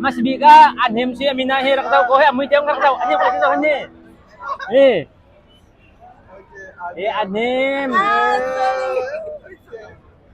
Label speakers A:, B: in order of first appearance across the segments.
A: Masbik ah an him si amina hi rak tau ko he amui tiang rak tau ani ko kin ani ni e an him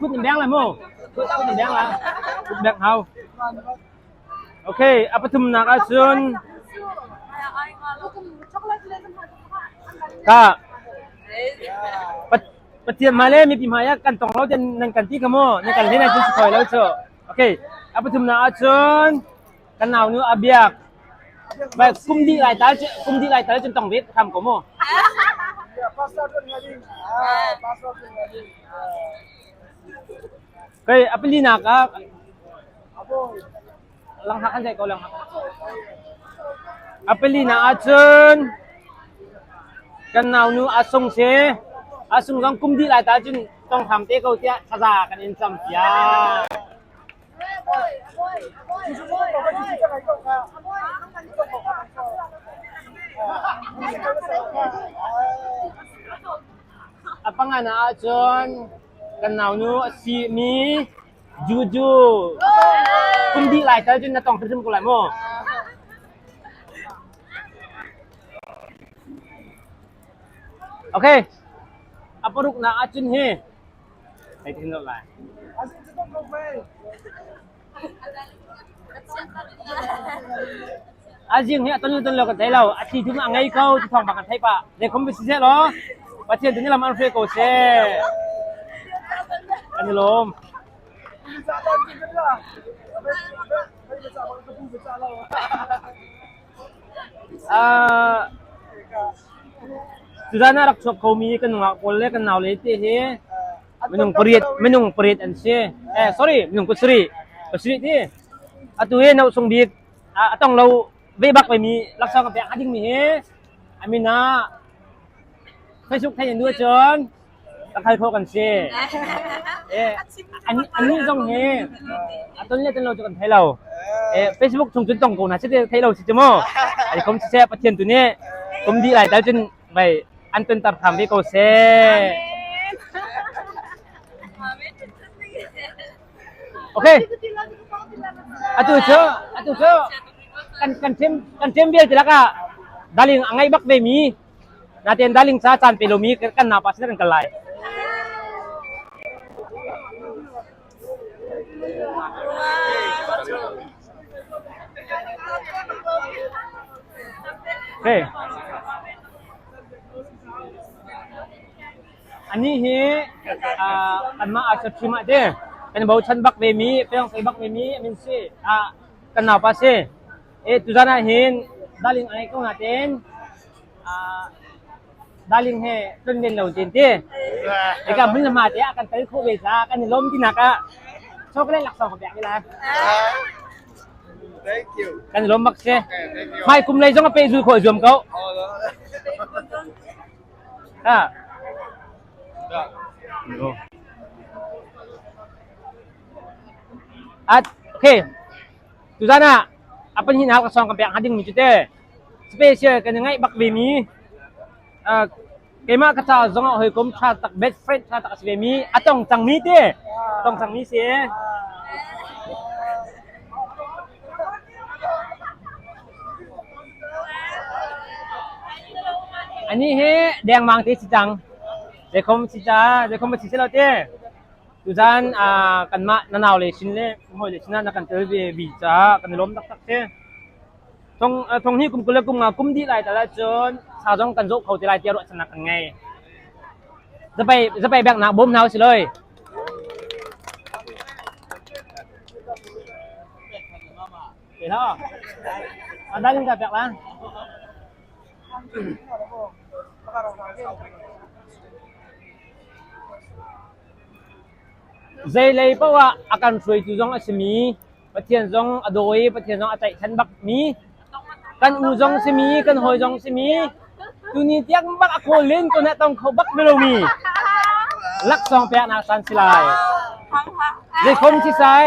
A: Kut in beng lai maw? Kut in beng lai. Kut beng hau. Okay, a pathumnak ah cun ka Pathian ma le mipi ma ya kan tong lo ten nan kan ti ka mo nan kan le nan tin khoi lo chu. Okay, a pathumna ah cun Ka naunu a biak. Bai kum dih lai tal cu kum dih lai tal cun tong bit kham ko mu. Kai apili nak ah langhak kan dai ko langhak. Apili na ahcun kan naunu asung se asung zong kum dih lai ta cun tong kham te ko tiah thaza kan in cam piak. A pangan ahcun kan naunu a simi Juju kum dih lai tal cun na tong hrimhrim ko lai maw? Okay. A paruk na ahcun hi A zing hi a tonlu tonlo kan thei lo. A thi thum a ngei ko ti thawng bak kan theih pah. Zeikhom bisi seh law Pathian tu nih lam an hruai ko seh. Kan i lawm. Tuzaan ah rak chuak khomi kan nungak pawl le kan naule te hi minung pariat minung pariat an si. Eh sorry minung kusarih kusarih ti. Atu hi nosung bik a tong lo ve bak mi laksawng a pek ding mi hi amin ah Facebook thein duh cun a khalphaw kan si. Annih zong hi ton le ton lo cu kan thei lo. Facebook chung cun tong ko hna si te thei lo si cu maw. Ai kom siseh Pathian tu nih kum dih lai tal cun vai an ton tar tham ve ko seh. Okay. Atu cu atu cu kan kan ṭem kan ṭem vialte lakah daling a ngai bak ve mi Natein darling ca caan pe lomi kan nau pa sin kan kal lai. Okay. Ani hi ah, kanmah arsa thim ah de kan bochan bak ve mi, peong sei bak ve mi, amin si ah, kan nau pa si. Tuzan ah hin darling ai ko natein ah darling he tlonlen lo tein ti. Ika hmun hma te ah kan tel khawh ve ca kan i lawm tinak ah chocolate laksawng ka pek ni lai.
B: Thank you. Kan i lawm bak si.
A: Mai kum lei
B: zong a pe
A: zul khawh zuam ko. Ha. At okay. Tuzan ah a pahnih hau ka sawng ka pek hnga dingmi cu te special kan i ngaih bak ve mi uh, keimah ka caah zong ah hawikom tha tak best friend tha tak a si ve mi a tong cang mi te tong cang mi si ani he dengmang te si cang dekhom si ca dekhom si si lo te Tuzan ah kanmah na naule sin le hawile sinah na kan tel ve vi caah kan i lawm taktak si. Thong thong hi kum kul le kum nga kum dih lai tal ahcun sa zong kan zawh kho ti lai tiah ruahchannak kan ngei. Zapai zapai bek nak bawm hna u si loi. Ke lo. Ada ning dah pek lah. Zeilei paoh ah a kan hruaitu zong a simi, Pathian zong a daw i Pathian zong a tlaihchan bak mi, kan u zong simi, kan hawi zong simi, tuni tiang bak a kawl len ko nih tong kho bak mi lomi laksawng peknak
B: san si lai. Zeikhom thi sai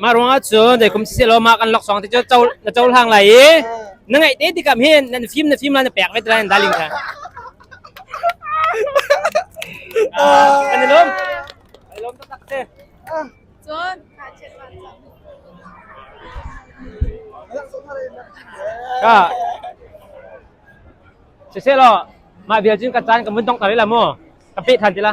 A: Mah ruangah cun zei kum siseh law mah kan loksawng te cu na cohlang lai i na ngaih te tikam hin nan fim na fim la na pek ve tila nan darling kha.
C: Ah, kan i lawm. Kan i lawm taktak si. Cun, ngakchiat
A: vanzam. Ka. Siseh law mah vial cun ka caan ka mun tong tar la mu. Ka pe than tila.